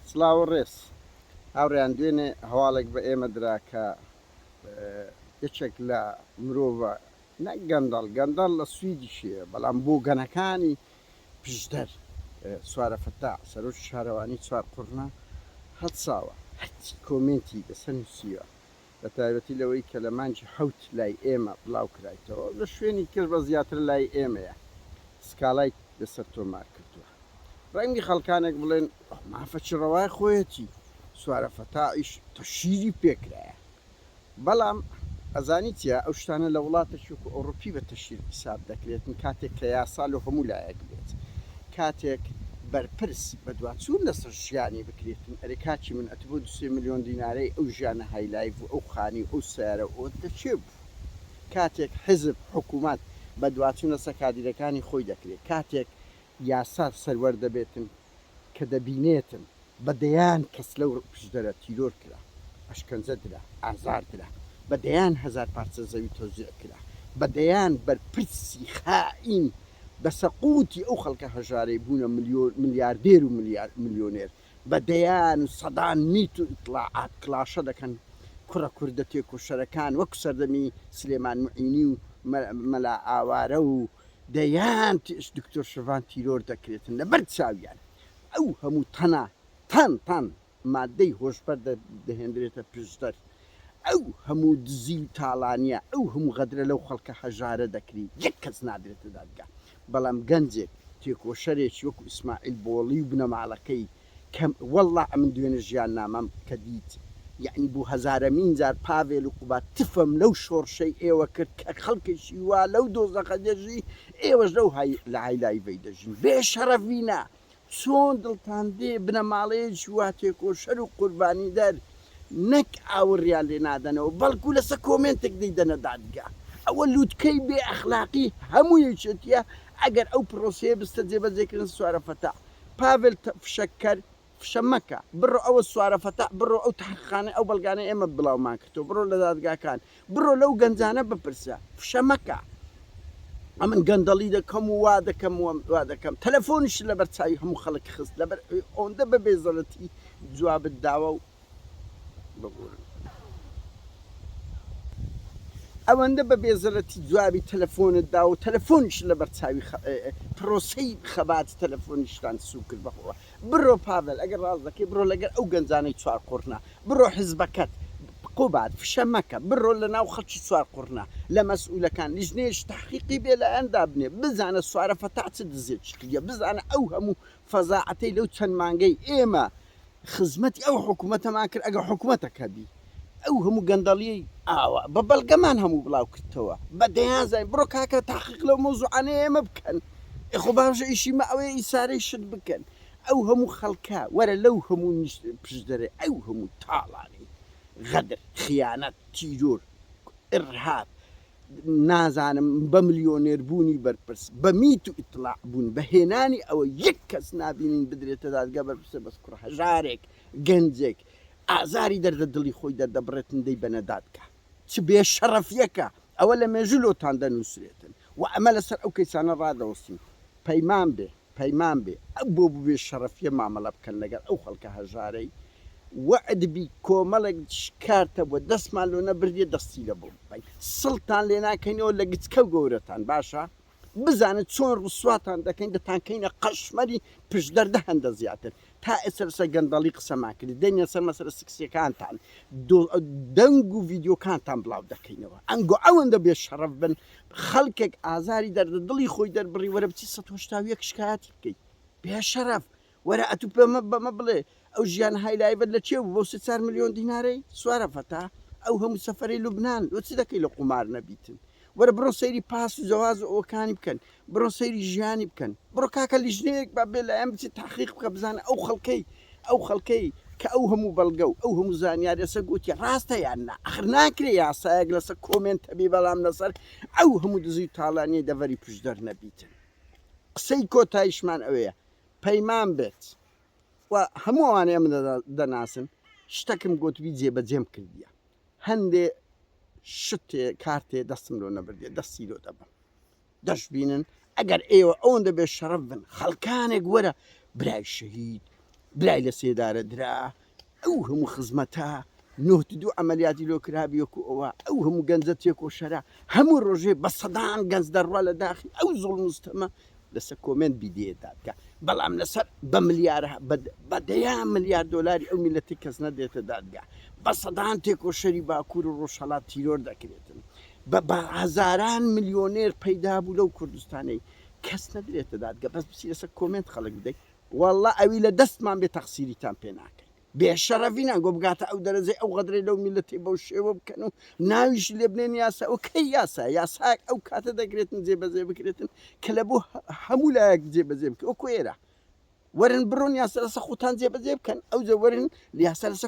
سڵاو و ڕێز هاوڕێیان دوێنێ هەواڵێک بە ئێمە درا کە یەکێک لە مرۆڤە نەک گەندەڵ گەندەڵ لە سویدیش هەیە بەڵام بۆگەنەکانی پشدەر سوارە فەتا سەرۆکی شارەوانی چوارقوڕنە هەڵساوە هەرچی کۆمێنتی لەسەر نووسیوە بە تایبەتی لەوەی کە لە مانگی حەوت لای ئێمە بڵاو کرایتەوە و لە شوێنی تر بەس زیاتر لای ئێمەیە سکاڵای لەسەر تۆمار کردووە. ڕەنگی خەڵکانێک بڵێن ئەو مافە چ ڕەوای خۆیەتی، سوارە فەتاحیش تەشهیری پێ کرایە. بەڵام ئەزانی چیە ئەو شتانە لە وڵاتێکی وەکو ئەوڕوپی بە تەشهیر حیساب دەکرێتن کاتێک کە یاسا لۆ هەموو لایەک بێت. کاتێک بەرپرس بەدواچوون لەسەر ژیانی بکریتن، ئەرێ کاکی من ئەتو بۆ دوسێ ملیۆن دینارەی ئەو ژیانە هایلایف و ئەو خانی و ئەو سەیارە و ئەوەت لەکێ بوو؟ کاتێک حزب، حکومەت بەدواچوون لەسەر کادیرەکانی خۆی دەکرێت، کاتێک یاسا سەروەر دەبێتن کە دەبینێتن، بە دەیان کەس لەو پشدەرە تیرۆر کرا، ئەشکەنجە درا، ئازار درا، بە دەیان هەزار پارچە زەوی تەوزیع کرا، بە دەیان بەرپرسی خائین بە سەقوتی ئەو خەڵکە هەژارەی بوونە ملیاردێر و ملیۆنێر، بە دەیان و سەدان میت و ئیتڵاعات کڵاشە دەکەن کوڕە کوردە تێکۆشەرەکان وەکو سەردەمی سلێمان موعینی و مەلا ئاوارە و دەیان دکتۆر شڤان تیرۆر دەکرێتن لەبەر چاویان ئەو هەموو تەنە تان تان مادەی هۆشبەر دەهێنرێتە پشدەر ئەو هەموو دزی و تاڵانیە ئەو هەموو غەدرە لەو خەڵکە هەژارە دەکری یەک کەس نادرێتە دادگا بەڵام گەنجێک تێکۆشەرێکی وەکو ئیسماعیل بۆڵی و بنەماڵەکەی کە وەڵڵا ئەمن دوێنێ ژیان نامەم کە دیت یەعنی بۆ هەزارەمین جار پاڤێل و قوباد تفم لەو شۆڕشەی ئێوە کرد کە خەڵکێکی وا لەو دۆزەخە دەژی ئێوەش لەو های لەهای لایڤەی دەژین بێ شەڕەڤینە چۆن دڵتان دێ بنەماڵەیەکی وا تێکۆشەر و قوربانی دەر نەک ئاوڕیان لێ نادەنەوە بەڵکو لەسە کۆمێنتێک دەیدەنە دادگا ئەوە لوتکەی بێ ئەخلاقی هەموو یەکێتیە ئەگەر ئەو پڕۆسەیە بستە جێبەجێکردن سوارە فەتاح پاڤێل تە فشەکەر فشە مەکە بڕۆ ئەوە سوارە فەتاح بڕۆ ئەو تەحقیقانەی ئەو بەڵگانەی ئێمە بڵاومان کردووە بڕۆ لە دادگاکان بڕۆ لەو گەنجانە بپرسە فشە مەکە ئەمن گەندەڵی دەکەم و وا دەکەم و وا دەکەم تەلەفۆنیش لەبەر چاوی هەموو خەڵک خست لەبەر ئەوەندە بە بێزەرەتی جوابت داوە و ببورن. ئەوەندە بە بێزەرەتی جوابی تەلەفۆنت دا و تەلەفۆنیشت لەبەر چاوی خە پرۆسەی خەباتی تەلەفۆنیشتان سووک کرد بەخۆوە بڕۆ پاڤێل ئەگەر ڕاست دەکەی بڕۆ لەگەر ئەو گەنجانەی چوار قوڕنە بڕۆ حزبەکەت قوباد فشە مەکە بڕۆ لە ناو خەڵکی چوار قوڕنە لە مەسئولەکان لیژنەیەکی تەحقیقی بێلایەن دابنێ بزانە سوارە فەتاح چ دزێکی کردیە بزانە ئەو هەموو فەزاعەتەی لەو چەند مانگەی ئێمە خزمەتی ئەو حکومەتەمان کرد ئەگەر حکومەتەک هەبی ئەو هەموو گەندەڵیەی ئاوا بە بەڵگەمان هەموو بڵاو کردتەوە بە دەیان زای بڕۆ کاکە تاقیق لەو مەوزوعانەی ئێمە بکەن ئێخۆ باشە ئیشی مە ئەوەیە ئی سارەی شت بکەن ئەو هەموو خەڵکە وەرە لەو هەموو نیشت پشدەرێ ئەو هەموو تاڵانی غەدر خیانەت تیرۆر ئرهاب نازانم بە ملیۆنێر بوونی بەرپرس بە میت و ئیتڵاع بوون بە هێنانی ئەوە یەک کەس نابینین بدرێتە دادگا بەرپرسە بەس کوڕە هەژارێک گەنجێک ئازاری دەردە دڵی خۆی دەردەبڕێتن دەی بەنە دادگا چ بێ شەڕەفیەکە ئەوە لە مێژوو لۆتان دەنووسرێتن و ئەمە لەسەر ئەو کەیسانە ڕادەوەستین پەیمان بێ پەیمان بێ بۆ بێ شەڕەفیە مامەڵە بکەن لەگەڵ ئەو خەڵکە هەژارەی وەعد بی کۆمەڵێک شکارتە بوە دەستمان لۆ نەبردیە دەستی لە بۆ بکەین سڵتان لێ ناکەینەوە لە گچکەو گەورەتان باشە بزانن چۆن ڕسواتان دەکەین دەتانکەینە قەشمەری پشدەر دە هەندە زیاتر تا ئێستا لەسەر گەندەڵی قسە ماکرد دەنگە سەر مەسەرە سکسیەکانتان دەنگ و ڤیددیوکانتان بڵاو دەکەینەوە ئەنگۆ ئەوەندە بێ شەڕەف بن خەڵکێک ئازاری دەردە دڵی خۆی دەربڕی وەرە بچی 1970 شکایەتی بکەیت بێ شەرەف وەرە ئەتو پێمە بەمە بڵێ ئەو ژیان هایلایبەت لە چێ بۆ سێ چار میلیۆن دینارەی سوارە فەتا ئەو هەموو سەفری لوبناان لۆ چ دەکەی لە قومار نەبیتن وەرە بڕۆ سەیری پاس و جەواز و ئەوەکانی بکەن بڕۆ سەیری ژیانی بکەن بڕۆ کاکە لیژنەیەک با بێ لایەن بچێت تەحقیق بکە بزانە ئەو خەڵکەی ئەو خەڵکەی کە ئەو هەموو بەڵگە و ئەو هەموو زانیاریە لەسەر گوتی ڕاستە یان نا ئەخر ناکرێ یاسایەک لەسەر کۆمێنت هەبی بەڵام لەسەر ئەو هەموو دزی و تاڵانیەی دەڤەری پشدەر نەبیتن قسەی کۆتایشمان ئەوەیە پەیمان بێت و هەموو ئەوانەی ئەمن دەناسن شتەکم گوتبی جێبەجێم کردیە هەندێ شتێ کارتێ دەستم لۆ نەبردێ دەستی لۆ دەبم دەشبینن ئەگەر ئێوە ئەوەندە بێ شەڕەف بن خەڵکانێک وەرە برای شەهید برای لە سێدارە درا ئەو هەموو خزمەتە نۆت دوو ئەعملیاتی لۆ کرابی وەکو ئەوە ئەو هەموو گەنجە تێکۆشەرە هەموو ڕۆژێ بە سەدان گەنج دەڕوا لە داخی ئەو زۆڵ مستەمە لەسەر کۆمنت بیدێدا بکە بەڵام لەسەر بە ملیار بە دەیان ملیار دلاری ئەو میلەتی کەس نەدێتە دادگا بە سەدان تێکۆشەری باکوور و ڕۆژهڵات تیرۆر دەکرێتن بە بە هەزاران ملیۆنێر پەیدا بوو لەو کوردستانەی کەس نەدرێتە دادگە بەس بچی لەسەر کۆمێنت خەڵک بدەی واللە ئەوی لە دەستمان بێ تەقسیریتان پێ ناکەین بێ شەڕەڤینان گۆ بگاتە ئەو دەرەجەی ئەو غەدرەی لەو میلەتی بەو شێوە بکەن و ناویش لێ بنێن یاسا ئەو کەی یاسا یاساک ئەو کاتە دەگرێتن جێبەزێ بکرێتن کە لە بۆ هەموو لایەک جێبەزێ بکە وەکو ئێرە وەرن بڕۆن یاسا لەسە خوتان جێبەزێ بکەن ئەو جە وەرن یاسا لەسە